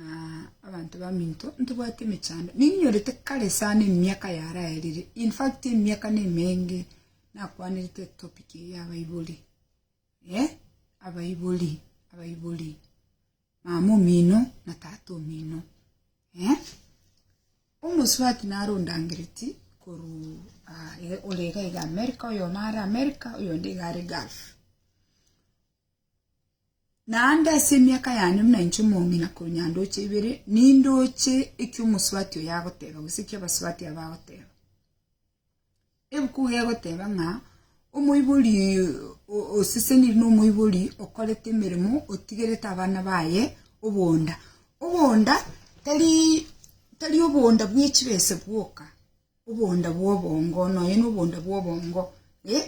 Aa, abanto baminto, ntobwati emechando. Ninyorete kare sana emiaka yaraerire, in fact emiaka nemenge nakwanerete etopic eye ya abaibori. Eh, abaibori, abaibori. Mama omino na tata omino. Eh, omosubati nare ondangereti korwa ah, ore iga iga America, oyomo are America, oyonde iga are Gulf. Naende ase emiaka yane buna inche omong'ina korwa nyandoche ibere, nindoche eki omosubati oyo agoteba, gose eki abasubati aba bagoteba. Ebuku iga egoteba ng'a omoibori o- oseseniri na omoibori okorete emeremo otigerete abana baye obonda. Obonda tarii tari obonda bwe chibese bwoka, obonda bwa obongo, nonya na obonda bwa obongo eh.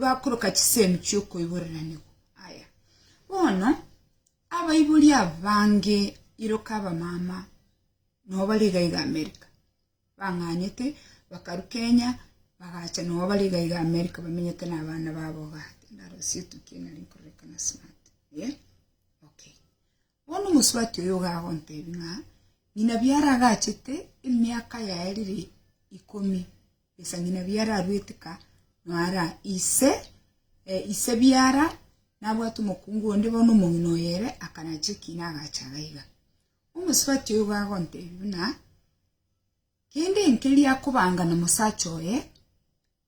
bakoroka chisemi chi'okoiborananigwa aya. Bono abaibori abange iroka abamama nao bari iga iga Amerika bang'anyete bakaru Kenya bagacha nao bari iga iga Amerika bamenyete na abana babo igaa. Tindara gose etukia nari nkororeka na smart eh okay. Bono omosubati oyo iga agontebi ng'a ng'ina biara agachete emiaka yaye riri ikomi, gesa ng'ina biara aruetika noara ise ise biara nabwate omokungu onde bono omong'ina oye ere akanache ekina agacha gaiga. Omosubati oyo iga agontebi buna kende enkeria akobanga nomosacha oye.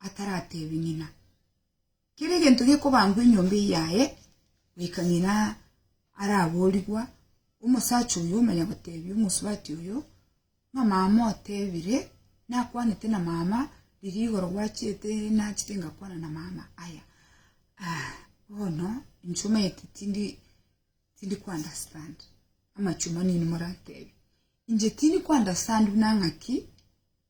ataratebi ng'ina. Kera egento gekobambwa enyomba eye yaye, goika ng'ina araboorigwa, omosacha oyo omanya gotebia omosubati oyo, Ng'a mama otebire, nakwanete na mama, riria igoro gwachiete nachete ngakwana na mama, aya ah, bono inche omanyete tindi tindi ku understand amachie omonene moratebi inche tindi ku understand buna ng'aki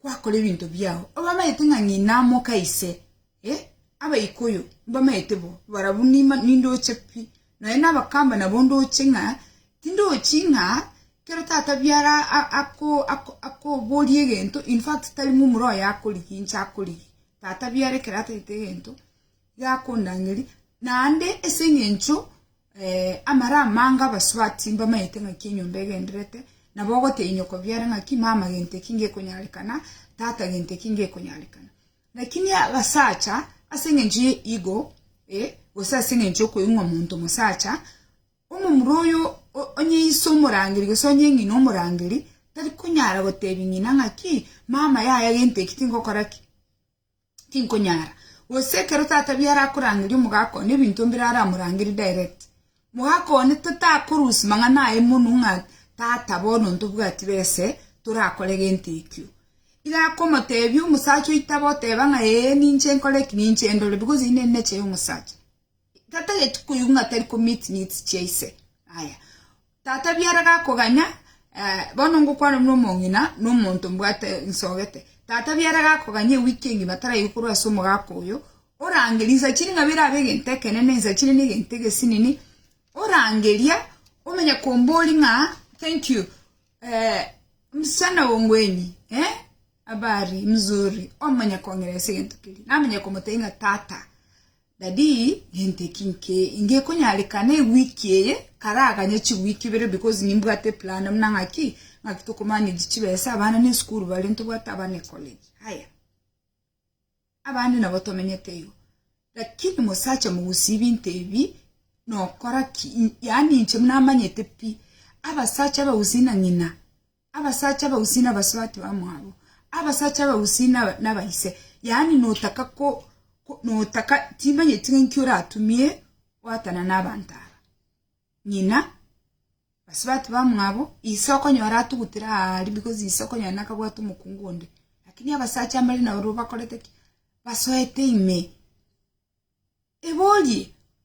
kwakora ebinto biao, obamanyete ng'a ng'ina amoka ise, eh, Abaikuyu mbamanyete bo, barabwo nima nindoche pi, nonya na Abakamba nabo ndoche ng'a tindochi ng'a kero tata biara a- ako- ako- akoboria egento in fact tari momura oye akorigia inche akorigia, tata biara ekero atagete egento gakondangeria, naende ase engencho amare amange abasubati mbamaete ng'aki enyomba egendererete, nabo ogotebia nyoko biare ng'aki mama gento eki ngekonyarekana, tata gento eki ngekonyarekana. Rakini abasacha, ase eng'encho ya ego, gose ase eng'encho ya okoigwa monto mosacha, omomura oyo o- onye ise omorangeri gose onye ng'ina omorangeri, tarikonyara gotebia ng'ina ng'aki, mama yaya gento eki tingokora ki. tinkonyara. Gose ekero tata biao arakorangeria omogaka one ebinto mbire aramorangerie direct. Mogaka one tatakorusia mang'ana aye mono ng'a tata bono ntobwati bese torakore gento ekio. Iga akomotebia omosacha oito abe oteba ng'a ee ninche nkore eki ninche ndore because inee ninecheye omosacha. Tatageti koigwa ng'a tari komit needs chia ise. Aya. Tata biara gakoganya, eh, bono ngokwana buna omong'ina na omonto mbwate nsogete. Tata biara gakoganya ewiki engima taraigwe korwa ase omogaka oyo, orangeria insa chiri ng'a bire abe egento ekenene, insa chiri ne egento egesinini, orangeria omenye kombori ng'a thank you, eh, msichana oo ngweni, eh, habari, mzuri, omanye kong'ira ase egento keria. Namanya komotebia ng'a tata. Dadi, nente ki nke ingekonyarekana ewiki eye? Karaganye chiwiki ibere because nimbwate plan buna ng'aki, ng'aki tokomanage chibesa, abana nesukuru bare, ntobwate abana ecollege. Haya, abande nabo tomenyete igo. Lakini mosacha mogusia ebinto ebi, nokora ki? Yaani inche buna amanyete pi, abasacha abagusia na ng'ina. Abasacha abagusii nabaswatu amo abo, abasacha abagusii nabaise, yaani notaka notaka timanyeti ng'aki oratumie goatana nabanto aba. Ng'ina, basubati bamwabo, ise okonyora atugutire aa aria because ise okonyora nakabwate omokungu onde. Lakini abasacha mbare nabo bakorete ki? Basoete ime. Eborie,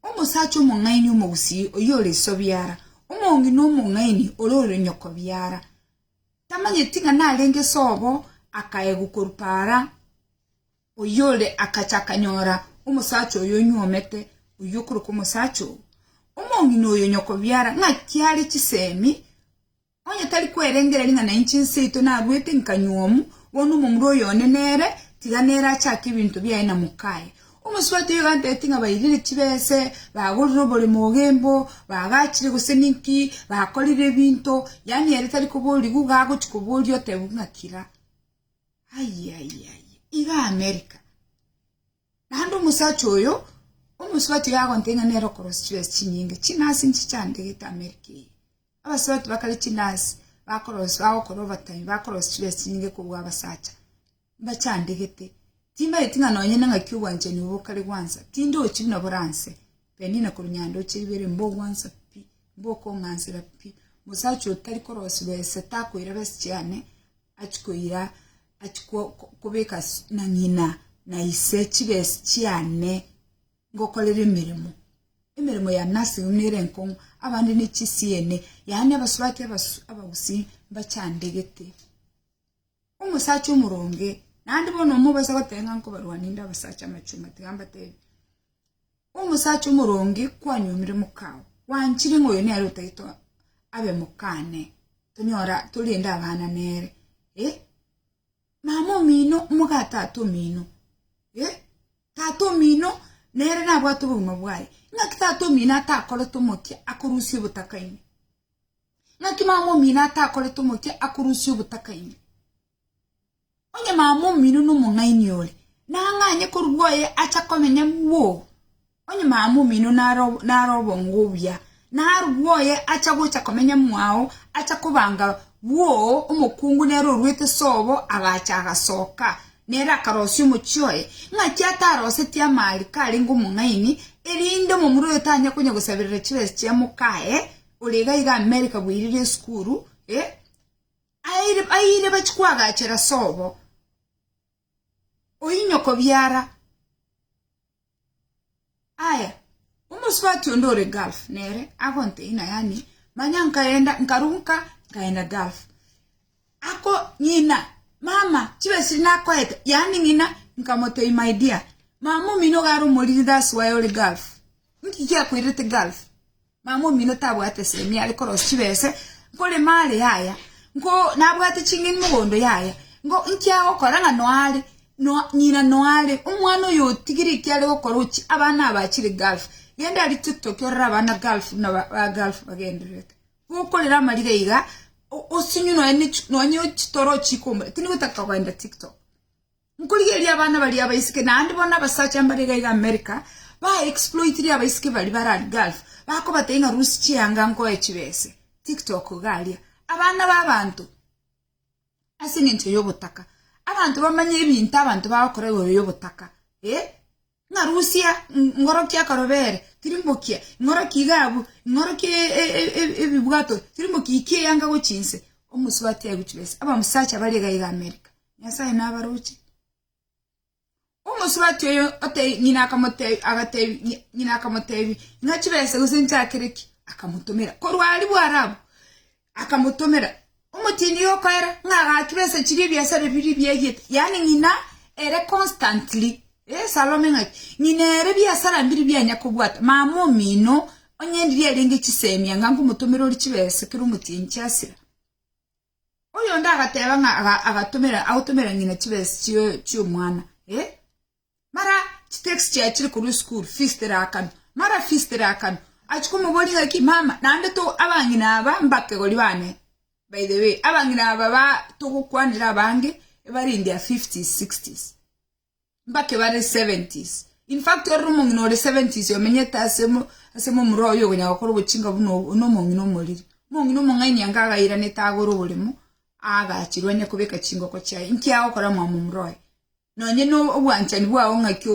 Omosacha omong'aini omogusii oyio ore isobiara, omongi na omong'aini ore oronyokobiara, tamanyeti ng'a narenge sobo akaegwa korwa para, oyio ore akacha akanyora omosacha oyio onyuomete, oyio okorokwa omosacha oo. Omong'ina oyo nyokobiara, ng'aki are chisemi? Onye tari kwerengereria ng'a nainche inseito naruete nkanyuomu, bono omomura oyo one nere, tiga nere achake ebinto biaye na mokaye. Omosubati oyo gantebitie ng'a bairire chibese, bagorire oboremo ogembo, bagachire gose ninki, bakorire ebinto, yaani ere tari koborigwa iga agochia koboria otebigwe ng'a kira. Aye aye aye, iga America. Naende omosacha oyo omosubati iga agontebia ng'a nere okorosia chibesa chinyinge, chinasi inche chiandegete Amerika eye. Abasubati bakare chinasi bakorosia bagokora overtime bakorosia chibesa chinyinge kobua abasacha, mbachandegete. Timbaeti ng'a nonye na ng'aki obwanchani obo bokare gwansa, tindochi buna boranse, Penina korwa Nyandoche Riberia, mbogwansa pi, mbokong'ansera pi. Mosacha oyo tari korosia chibesa takoira besa chiane achikoira. Achia kobeka na ng'ina na ise chibesi chiane ngokorere emeremo, emeremo y'ane asegwe nere enkong'u, abande ne chisiene, yaani abasurati abagusii mbachandegete. Omosacha omoronge, naende bono omobaisa goteba ng'a nkobarwania inde abasacha amachunga tiga mbatebie. Omosacha omoronge kwanyomire mokao, gwanchire ng'a oyo nere otagete abe mokane, tonyora torende abana nere. Eh, mama omino moga tata omino. Eh, tata omino nere nabwate obogima bwaye. Ng'aki tata omino atakorete omokia akorusia obotakaine? Ng'aki mama omino atakorete omokia akorusia obotakaine? Onye mama omino nomong'aini ore, nang'anye korwa oye acha komenya bwogo. Onye mama omino naro naro obongo obuya, narwa oye acha gocha komenya mwao, acha kobanga bwogo, omokungu nere oruete sobo agacha agasoka, nere akarosia omochie oye, ng'aki atarosetie amaariko arenge omong'aini, erinde omomura oyo tanya konya gosaberera chibesa chia mokaye, ore iga iga Amerika bweirire esukuru, eh. Abaire bachia koagachera sobo oyio nyoko biara. Aya, omosubati onde ore Gulf nere agonteina yaani manya nkaenda nkaruka nkaenda Gulf. Ako ng'ina, mama chibesa echi nakoete yaani ng'ina nkamotebia my dear mama omino iga are omoriri that's why ore Gulf. Nki giakoirete Gulf? Mama omino tabwate esemi are korosia chibese, nkorema are yaya, nko nabwate ching'eni mogondo yaya, nko inki agokora ng'a noare no ng'ina noare omwana oyo otigire eki are gokora ochie abana aba achire gulf, genda aria tiktok orore abana gulf buna ba ba gulf bagendererete. Gokorera amarire iga o osinywe nonya ne chi nonya chitoro ochie komura tindi gotaka kogenda tiktok. Nkorigereria abana baria abaiseke, naende bono abasacha mbare iga iga America, ba exploitire abaiseke baria barari Gulf, bakobatebia ng'a rusia chianga nkoe chibese, TikTok iga aria. Abana b'abanto, ase eng'encho y'obotaka, abanto bamanye ebinto abanto bagokora igoro y'obotaka, eh. Ing'arusia, ing'orokia akarobere, tirimbokia, ing'orokia igabu, ing'orokia ebibwato, tirimbokia, ikia eyanga gochia inse, omosubati aye gochia besa. Abasacha baria iga iga Amerika, Nyasaye nabaroche. Omosubati oyo ng'ina akamotebia, agatebia, ng'ina akamotebia, ng'a chibesa gose nchakere ki? Akamotomera. Korwa aria Bwarabu, Akamotomera omotini okoera ng'a agachura ase chiria ebiasare biria biaigete, yaani ng'ina ere constantly eh, Salome ng'aki? Ng'ina ere biasara mbiri bianya kobwata, mama omino onye ndiria arenge chisemi anga nkomotomera ore chibesa ekero omotini chiasira. Oyonde agateba ng'a aga- agatomera agotomera ng'ina chibesa chio- chiomwana eh. Mara chitax chiaye chire korwa esukuru fees teraakame. Mara fees teraakame, achia komoboria ng'a ki, mama, naende to abang'ina aba mbakegori bane, by the way, abang'ina aba ba togokwanera abange ebare in their fifties, sixties, mbake bare seventies. In fact, ororo omong'ina ore seventies omenyete ase mo, ase mo omoroo oyo okonyara gokora obochinga buna obo, na omong'ina omoriri. Omong'ina omong'aini anga agairanete agore oboremo, aagachirwe onye kobeka chingoko chiaye. Inki agokora omwamo omoroo oyo? Nonya nobwanchani bwao ng'aki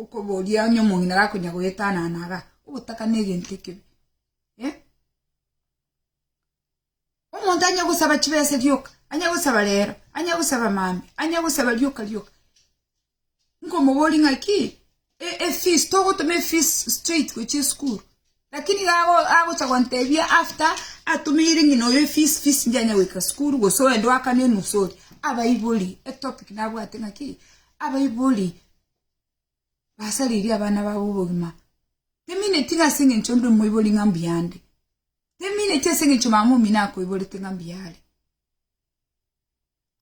okoboria onye omong'ina gakonya goetanana iga? Ogotaka negento ekibe. Omonto anya gosaba chibesa rioka, anya gosaba rero, anya gosaba maambia, anya gosaba rioka rioka. Nkomoboria ng'aki e- efees togotoma efees straight gochia esukuru lakini iga ago- agocha gontebia after atomeire ng'ina oyo efees fees ndianya goika sukuru gose oende oakane enusu oria abaibori etopic nabwate ng'a ki abaibori basaririe abana babo obogima temineti ng'a ase eng'encho onde omoibori ng'a mbuya ande temineti ase eng'encho mama omino akoiborete ng'a mbuya are.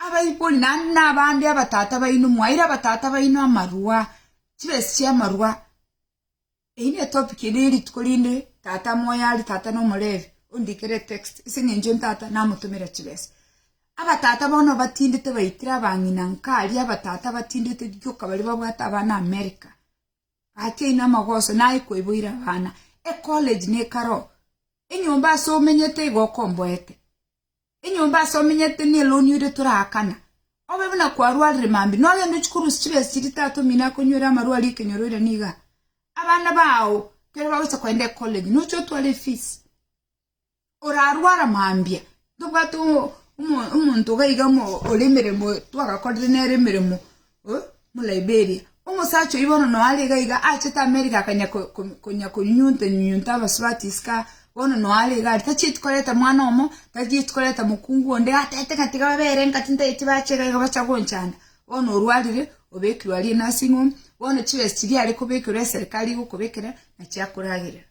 Abaibori naende nabande abatata baino mwaire abatata baino amarua, chibesi chi'amarua. Eyio ne topic ende ye rituko rinde tata moyo are tata no Omolevi ondikere etext ase eng'encho ntata namotomera chibesa. Abatata bono batindete baitire abang'ina nka aria abatata batindete gioka baria babwate abana America. Gateine amagoso naye koiboire abana. Ecollege nekaro, enyomba ase omenyete igo okomboete. Enyomba ase omenyete neloonio ire toraakana. Obe buna kwarwarire mambia, nogende ochie korusia chibesiri tata omino akonywere amarwa aria ekenyoro ere nigo aa. Abana bao kere bagocha kogenda ecollege noche otware efees. Orarwara mambia, ntobwate omonto iga iga ore emeremo twagakorire nere emeremo. Omoliberia, omosacha oyio bono noare iga iga aachete Amerika akanya konya konyunyunta nyunyunta abasubati isiko, bono noare iga aria, tachieti koreta mwana omo, tachieti koreta mokungu onde, atete ng'a tiga babe ere engaki ntaeti bache iga iga bacha gonchanda. Bono orwarire, obekirwe aria enurse home, bono chibesa chiria are kobekerwa eserikari egokobekera, nachiakoragerera.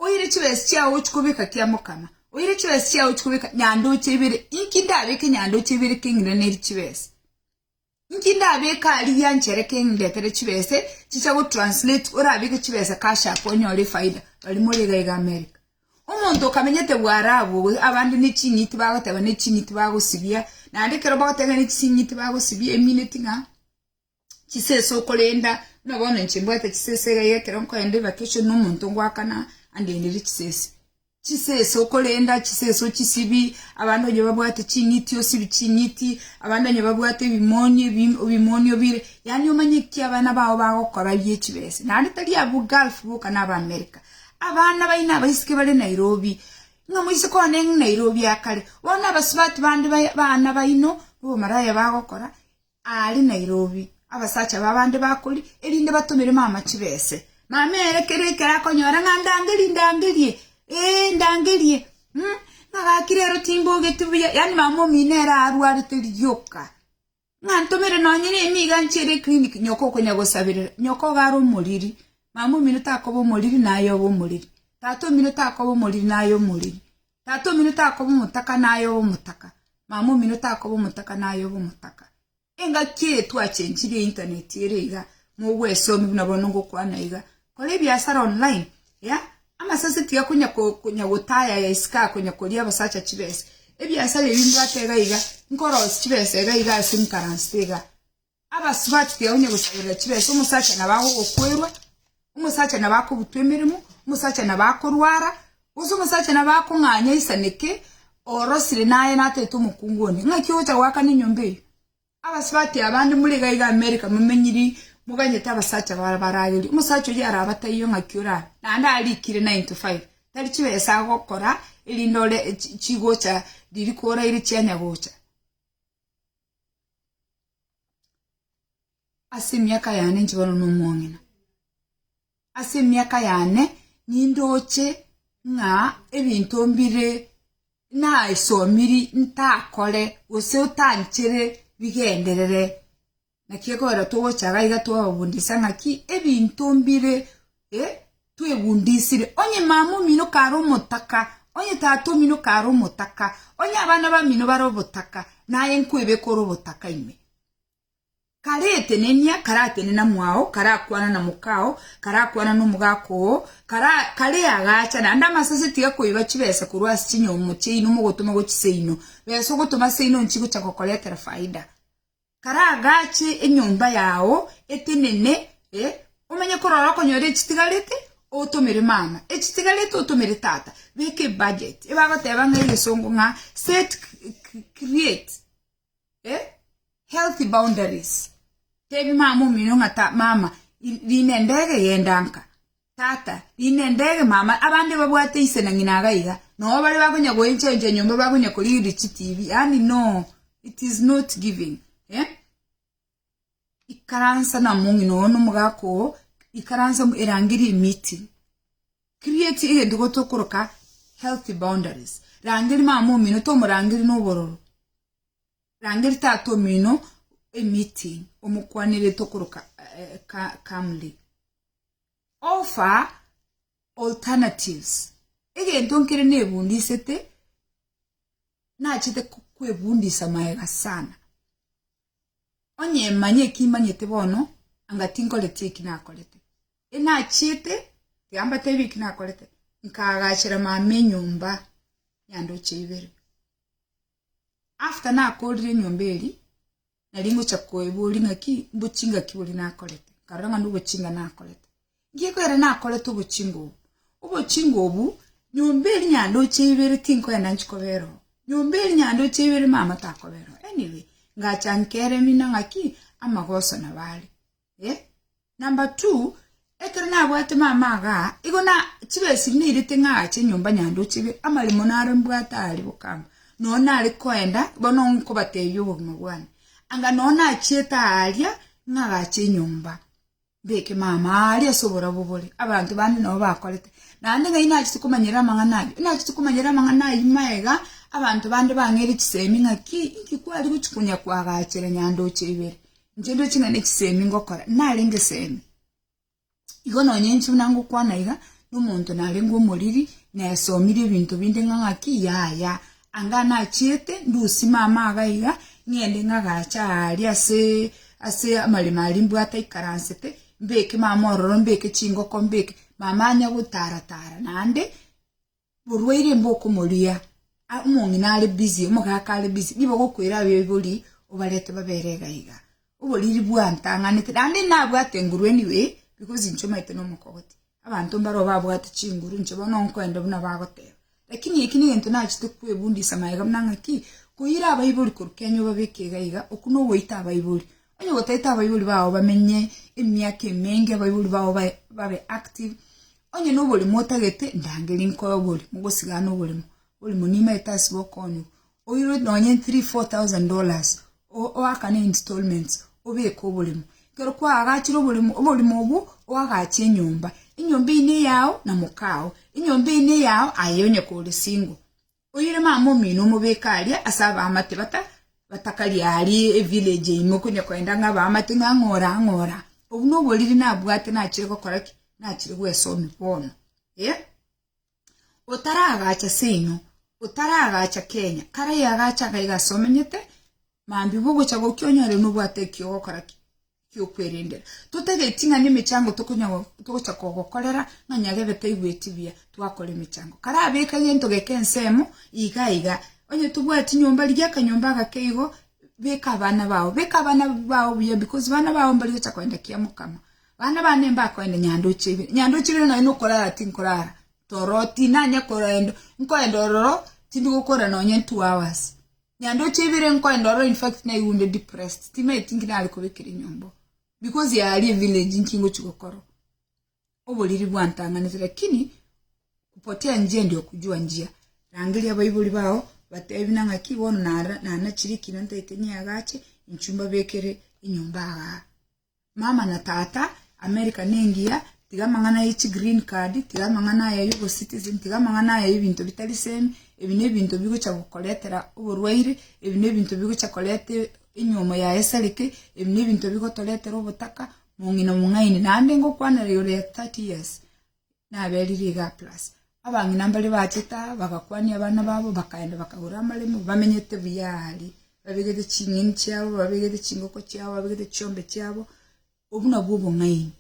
Oire chibesa chiao ochikobeka kiamokana, oire chibesa chiao ochikobeka nyandoche ibere, inki ndabeke nyandoche ibere keng'iraneri chibesa? Inki ndabeke aria gianchere keng'etere chibesa chicha gotranslate orabeke chibesa cash apo onyore efaida baria more iga iga America. Omonto okamenyete bwarabu abande ne ching'iti bagoteba ne ching'iti bagosibia naende ekero bagoteba ne ching'iti bagosibia emineti ng'a. chisesa okorenda buna bono inche mbwate chisesa iga ekero nkoenda evacation na omonto ngoakana andendere chisesa. Chisesa okorenda chisesa ochisibie abande onye babwate ching'iti osibie ching'iti abande onye babwate ebimoni ebi- ebimoni obire yaani omanye ki abana bao bagokora bie chibesa. Naende tari abwo gulf boka na aba america, abana baino abaiseke bare Nairobi, ng'a moise kogenda eng'u Nairobi akare, bono abasubati bande bae abana baino obomaraya bagokora. Aare Nairobi, abasacha b'abande bakori erinde batomere mama chibese. Mama ere kera ekero akonyora ng'a ndangerie, ndangerie, ee, ndangerie, mm, ng'a gaki rero timbogeti buya, yaani mama omino ere arwarete rioka, ng'a ntomere nonye na emiga nchere eclinic, nyoko okonya gosaberera, nyoko iga are omoriri, mama omino takoba omoriri naye obe omoriri, tata omino takoba omoriri naye omoriri. Tata omino takoba omotaka naye obe omotaka, mama omino takoba omotaka naye obe omotaka. Engaki eye twachenchirie internet ere iga mogwesomia buna bono ngokwana iga. Kora ebiasara online ya amasase tiga konya konya gotayaya isiko akonya koria abasacha chibesa. Ebiasara ebi mbwate iga iga nkorosia chibesa iga iga ase nkaranste iga. Abasubati tiga onye gosaberera chibesa, omosacha nabo agogokwerwa, omosacha nabo akobutwa emeremo, omosacha nabo akorwara, gose omosacha nabo akong'anya aisaneke, orosire naye natete omokungu onde. Ng'aki ogocha goakana enyomba eye? Abasubati aba bande more iga iga America momenyiri moganyete abasacha bare baragerie. Omosacha oyio arabe ataiyo ng'aki orabe, naende arikire nine to five, tari chibesa agokora erinde ore chigocha riria koraire chianya gocha. Ase emiaka yane nchibana nomong'ina. Ase emiaka yane nindoche ng'a ebinto mbire naesomiri ntakore gose otanchere bigenderere. Naki ekogera togocha iga twababundisa ng'aki ebinto mbire. Eh, twegundisire. Onye mama omino kare omotaka, onye tata omino kare omotaka, onye abana bamino bare obotaka, naye nkwebeka ore obotaka ime. Karetenenia, karatenena mwao, karakwana na mokao, karakwana na omogaka oo, kara, kare agacha, naende amasase tiga koiba chibesa korwa ase chinyomo chiaino mogotoma gochia seino. Besa ogotoma seino nchigocha gokoretera faida. Karagache enyomba yao etenene, e, omenye korora okonyora echitigarete, otomere mama, echitigarete otomere tata, beka ebudget, ebagoteba ng'a egesongo ng'a set create e, healthy boundaries, tebi mama omino ng'a ta mama, ri- rinde ndege genda nka. Tata, inde ndege mama, abande babwate ise na ng'ina iga iga, noo baria bakonya goencha encha enyomba bakonya korigiria chitibi, yaani noo it is not giving eh? Ikaransa na omong'ina oo na omogaka oo, ikaransa mo- erangerie meeting. Create egento igo tokoroka healthy boundaries. Rangeria mama omino tomorangeria na obororo. Rangeria tata omino emiti omokwanerete okoroka calmly offer alternatives egento nkere nebundisete nachete kwebundisa magega sana onye manye eki manyete bono anga tinkoreti eki nakorete enachete tiga mbatebi eki nakorete nkagachera mama enyomba ya ndoche ibere After nakoorire enyomba eri, nari ngocha koeboria ng'aki mbochinga ki boria nakorete, nkarora ng'a nobochinga nakorete. Nki ekwere nakorete obochinga obo? Obochinga obu, nyomba eri nyandoche ibere tinkoenda nchi kobera oo, nyomba eri nyandoche ibere mama takobera oo. Anyway, ngacha nkere mino ng'aki, amagoso nabo are. Eh, number two, ekero nabwate mama iga, igo na chibesiri nairete ng'aache nyomba Nyandoche iga, amaremo naro mbwate aria bokamba, nonya nare koenda, bono nkobatebia obogima bwane, anga nonya nachiete aria, ng'agache enyomba, mbeke mama aria ase oborabu bore, abanto bande nabo bakorete, naende ng'ai nachete komanyera amang'ana ayio, nachete komanyera amang'ana ayio maega, abanto bande bang'eire chisemi ng'aki, inki kwari gochi konya koagachera Nyandoche ibere, Inche ndire ching'ana echisemi ngokora, narenge esemi, igo nonya inche buna ngokwana iga, na omonto narenge omoriri, nesomire ebinto binde ng'a ng'aki yaya, anga nachiete ndusie mama iga iga, ng'ende ng'agacha aaria aseee ase amaremo aria mbwate aikaransete, mbeke mama ororo, mbeke chingoko, mbeke mama anya gotara tara naende. Oborwaire mbo okomoria, omong'ina are busy, omogaka are busy, nigo ogokwera abaibori obarete babere iga iga. Oboriri bwantang'anete, naende nabwate enguru anyway, because inche omanyete nomokogoti. Abanto mbaro babwate chinguru, inche bono nkoenda buna bagoteba. Lakini eki negento nachete kwebundisa magega buna ng'aki, koira abaibori korwa Kenya obabeke iga iga, oku nogoita abaibori. Onye gotaete abaibori bao bamenye emiaka emenge, abaibori bao bae babe active, Onye noborimo otagete ndangeri nkoe oborio mogosigana oborimo oborimo nimaete ase bokonigwa oiro nonye three four thousand dollars o- oakane installments obeke oborimo ekero kwaagachire oborimo oborimo obwo oagache enyomba enyomba eywo neyao na mokao enyomba eywo neyao aye onye kore single Oire mama omino omobeke aria ase abaamate bata batakaria aari evillage eime okonya koenda ng'a abaamate ng'a ng'ora ng'ora. Obwo noboriri nabwate nachire gokora ki? Nachire gwesomia bono. Eh? Otaragacha seino, otaragacha Kenya, kare yagacha iga iga ase omenyete, Mambia bogocha gokia onyore nobwate eki ogokora gi'okwerendera. Totageti ng'a nemechango togocha kogokorera ng'a nyarebe taigweti buya twakora emechango. Karabeke gento geke ensemo iga iga. Onye tobwati nyomba rigia akanyomba agake igo, beka abana bao. Beka abana bao buya because abana bao mbari gocha kogenda kia mokama. Abana bane mbakogenda nyandoche ibere. Nyandoche ibere nonya nokorara tinkorara toro tinanya kogenda, nkoenda ororo tindi gokora nonya two hours. Nyando echi ibere nkoenda ororo in fact naigunde depressed timaeti nki nare kobekera enyomba oo because yaya aria evillage nki ngochi gokora oo oboriri bwantang'anete lakini kupotea njia ndio kujua njia rangeria abaibori bao batebi nang'a ki bono nara nanachire ekina ntaete niagache inchuo mbabekere enyomba igaa. Mama na tata America nengiya tiga amang'ana ye chi green card tiga amang'ana aya yo bo citizen tiga amang'ana aya yebinto bitari same ebi nebinto bigocha gokoretera oborwaire ebi nebinto bigocha koreta enyomo yaye esareke ebi nebinto bigotoretera obotaka mong'ina mong'aini naende ngokwanera igoro ya thirty years. naberire iga plus abang'ina mbaria bachete aa bagakwania abana babo bakaenda bakagora amaremo bamenyete buya aare, babegete ching'eni chiabo, babegete chingoko chiabo, babegete chiombe chiabo, obwo nabwo obong'aini.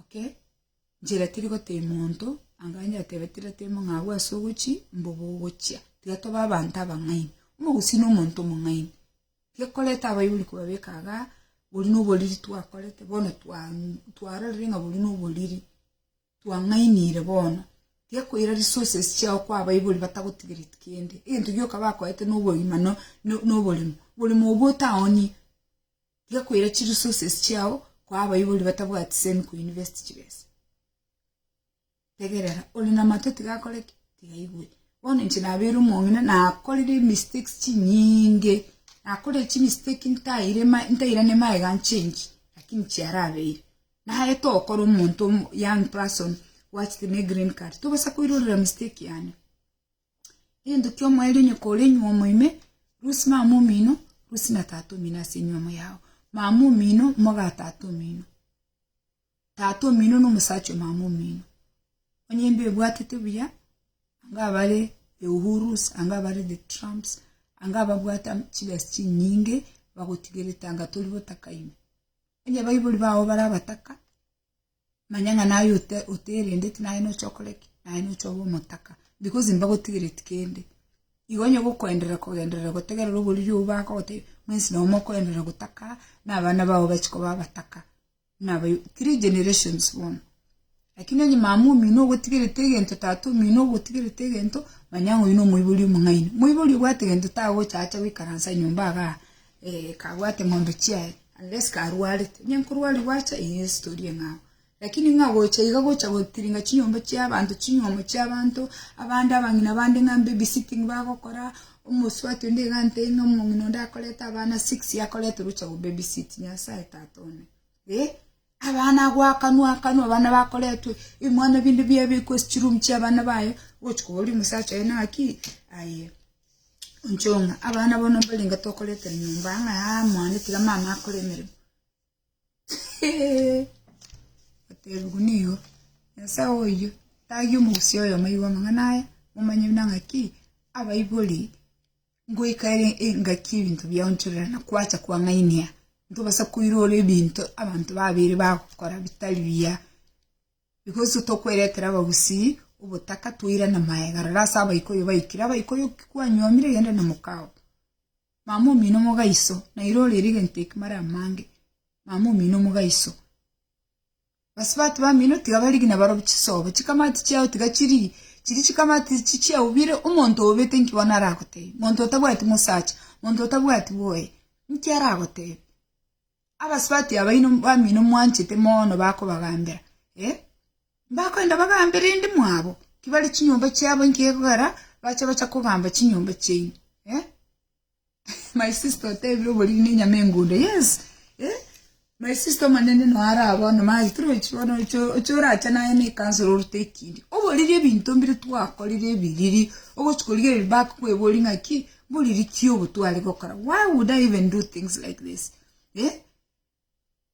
Okay, nchera tiri gotebia monto anga nyateebe tira tebia ng'a abwo ase ogochia mboba ogochia, tiga tobe abanto abang'aini, omogusii na omonto omong'aini, Gekorete abaibori kobabeka iga, boria noboriri twakorete bono twarorire ng'a boria noboriri twang'ainire bono, gekoira resources chiao kwa abaibori batagotigereti kende, egento gioka bakoete nobogima no noboremo, oboremo obwo otaoni gekoira chiresources chiao kwa abaibori batabwati semi koinvest chibesa. Tegerera, ore namatwe tiga akore ki? Tiga aigwe. Bono inche nabeire omong'ina, nakorire mistakes chinyinge, nakorire chimistake ntaire ma ntairane magega nchengi, lakini chiarabeire. Naete okora omonto omo- young person gwachete ne green card, tobasa koirorera mistake yane. Egento kia omoerio onye kore nywomo ime, rusia mama omino, rusia na tata omino ase enywomo yao. Mama omino, moga tata omino. Tata omino nomosacha omama omino. Onye embe ebwatete buya, anga abare the Uhurus, anga abare the Trumps, anga ababwate chibesa chinyinge, bagotigerete anga tori botaka ime. Onye baibori bao bare abataka, manya ng'a naye ote- oterendeti naye nocha okore ki? Naye nocha obe omotaka because mbagotigereti kende. Igo onye ogokoenderera kogenderera gotegerera oboriri obwo bakogotebia, mwensi nonya mokoenderera gotaka, na abana bao bachia koba abataka. Nabayo three generations bono. Lakini onye mama omino ogotigerete egento, tata omino ogotigerete egento, manya ng'a oyio nomoibori omong'aini. Moibori obwate egento tagocha acha goikaransa nyomba igaa eh kabwate ng'ombe chiaye, unless karwarete. Onye nkorwaria gwacha eyio nestory eng'ao. Lakini ng'a gocha iga gocha gotiringa chinyomba chiabanto, chinyomo chiabanto, abande abang'ina bande ng'a mbabysitting bagokora. Omosubati onde iga antebirie ng'a omong'ina onde akorete abana six akorete oroche ya go baby sit, Nyasaye Tata one, eh! Abana agwo akanwa akanwa abana bakoretwe ebimwana binde biabekwa ase chiroom chia abana baye ogochia koboria omosacha oye naki aye onchore ng'a abana bono mbarenge tokoretera nyomba ang'e aa mwane tiga mama akore emeremo. Baterigwe nigo, Nyasae oyio tagie omogusii oyomo aigwe amang'ana aya, momanye buna ng'aki abaibori ngoika ere engaki y'ebinto biao nchorera na kwacha kwang'ainia, ntobasa koirora ebinto abanto babere bagokora bitari biya, because tokweretera abagusii obotaka twairane magega, rora ase abaikuyu baikire, abaikuyu ki kwanyuomire genda na mokao. Mama omino omogaiso, nairo ore erigento ekimara amange, mama omino omogaiso. Basibatu bamino tiga barigi na barobi chisobo, chikamati chiao tiga chirigi, chiri chikamati chichia obire, omonto obete nki bono aragotebie? Monto otabwati mosacha, monto otabwati bwoye, nki aragotebie? Abasubati abaino bamino mwanchete mono bakobagambera, eh, mbakoenda bagambe rende mwabo kibare chinyomba chiabo inki gekogera bache gocha kogamba chinyomba chiaino, eh. My sister otebire oboriri ne enyama engundo, yes, eh, my sister omonene noe are aa bono maye torochi bono oche oche orache naye ne ekansoro orute ekindi. Oboriri ebinto mbire twakorire ebiriri ogochi korigereria bakokwebori ng'aki Bori rikia obotwari gokora. Why would I even do things like this? Eh?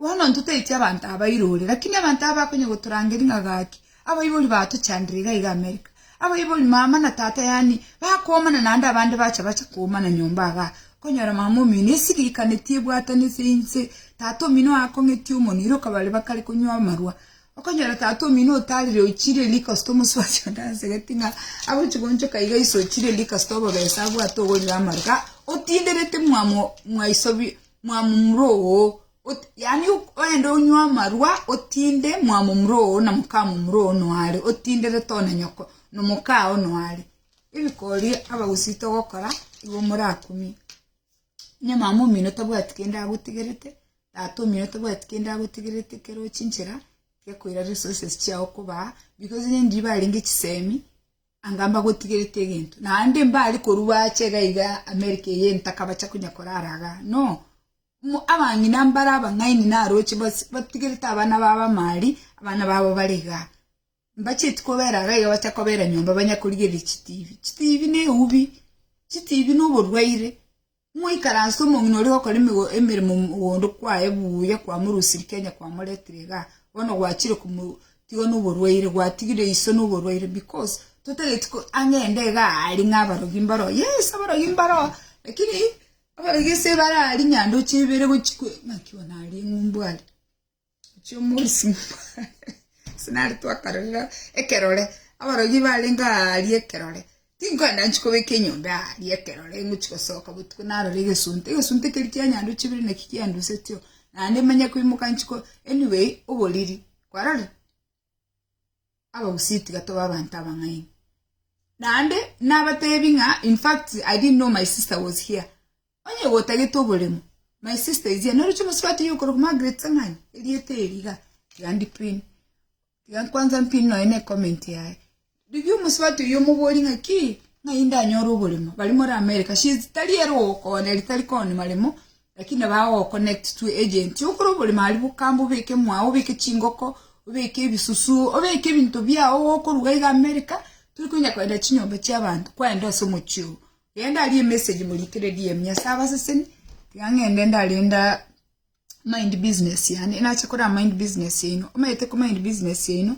Bono ntotaitie abanto aba irore, lakini abanto aba bakonya gotorangeria ng'a gaki, abaibori batochandire iga iga America. Abaibori, mama na tata yani, bakoomana naende abande bacha bacha koomana nyomba igaa. Okonyora mama omino esirikanetie ebwatanete inse, tata omino aakong'etie omonwa, ere okabare bakare konywa amarwa. Okonyora tata omino otarire ochirie riko ase tomosubati onde asegeti ng'a agochi goonchoka iga iso ochirie riko ase tobobesa abwate ogoirwa amaru ga otinderete mwamo mwaiso bi mwamomura oo ot yaani ok oende onywe amarwa otinde mwamomura oo na mokamomura oo noyo are otinderete one nyoko nomoka oo noyo are. Ebikori abagusii togokora igo morakumie. Nyamama omino tabwati kende agotigerete, tata omino tabwati kende agotigerete ekero ochinchera tiga koira resources chiao kobaa because onye ndiri barenge chisemi anga mbagotigerete egento naende mbare korwa bache iga iga America eye ntakabacha konya korara igaa no, mo abang'ina mbare abang'aini naroche bas batigerete abana babo amaaria abana babo bare igaa. Mbachieti kobera iga iga bacha kobera nyomba banya korigereria chitibi. Chitibi ne eubi. Chitibi ne oborwaire. Moikaranse omong'ina oria gokora emigo emeremo mogondo kwaye buya kwa morusiri Kenya kwa moretire iga. Bono gwachire komo tiga no oborwaire gwatigire iso no oborwaire because totageti ko ang'ende iga ari ng'a abarogi mbaro. Yes abarogi mbaro lakini abarogi ase bare ari nyandroche ibere gochi kwe ng'aki one aria ng'umbu are. chi'omoisingwa ase nare twakarorire ekerore abarogi barenge aaria ekerore tinkoenda nchi kobeka enyomba aaria ekerore ngochi gosoka botuko narore egesunte egesunte keri kia nyandu chibere naki kiandusetio naende manye koimoka nchiko anyway oboriri kwarorire Abagusii tiga tobe abanto abang'aini. Naende nabatebi ng'a in fact I didn't know my sister was here. Onye gotagete oboremo, my sister is here. Noroche omosubati oyo okorwa korwa Margaret Sang'ani, erieta eri iga, tiga ndipin. Tiga kwanza mpin nonya ne comment yaye. Rigiyo omosubati oyio omoborie ng'aki, ng'ai ndanyore oboremo, baria more America, since tari ere ogokonya eri tari konya maremo, lakini nabo agogo-connect to agent okore oboremo aria bokambe obeke mwao, obeke chingoko, obeke ebisusu, obeke ebinto biao gokoruga iga America, tori konya kogenda chinyomba chia abanto, kwenda ase omochi oo, genda aria emessage morikere DM, Nyasae abaseseni, tiga ng'ende ndare nda. mind business yane nache kora mind business yaino omanyete ko mind business yaino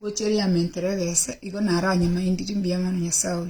gochia rearment regese igo naranyamindiri mbuya mono nyasae oyo.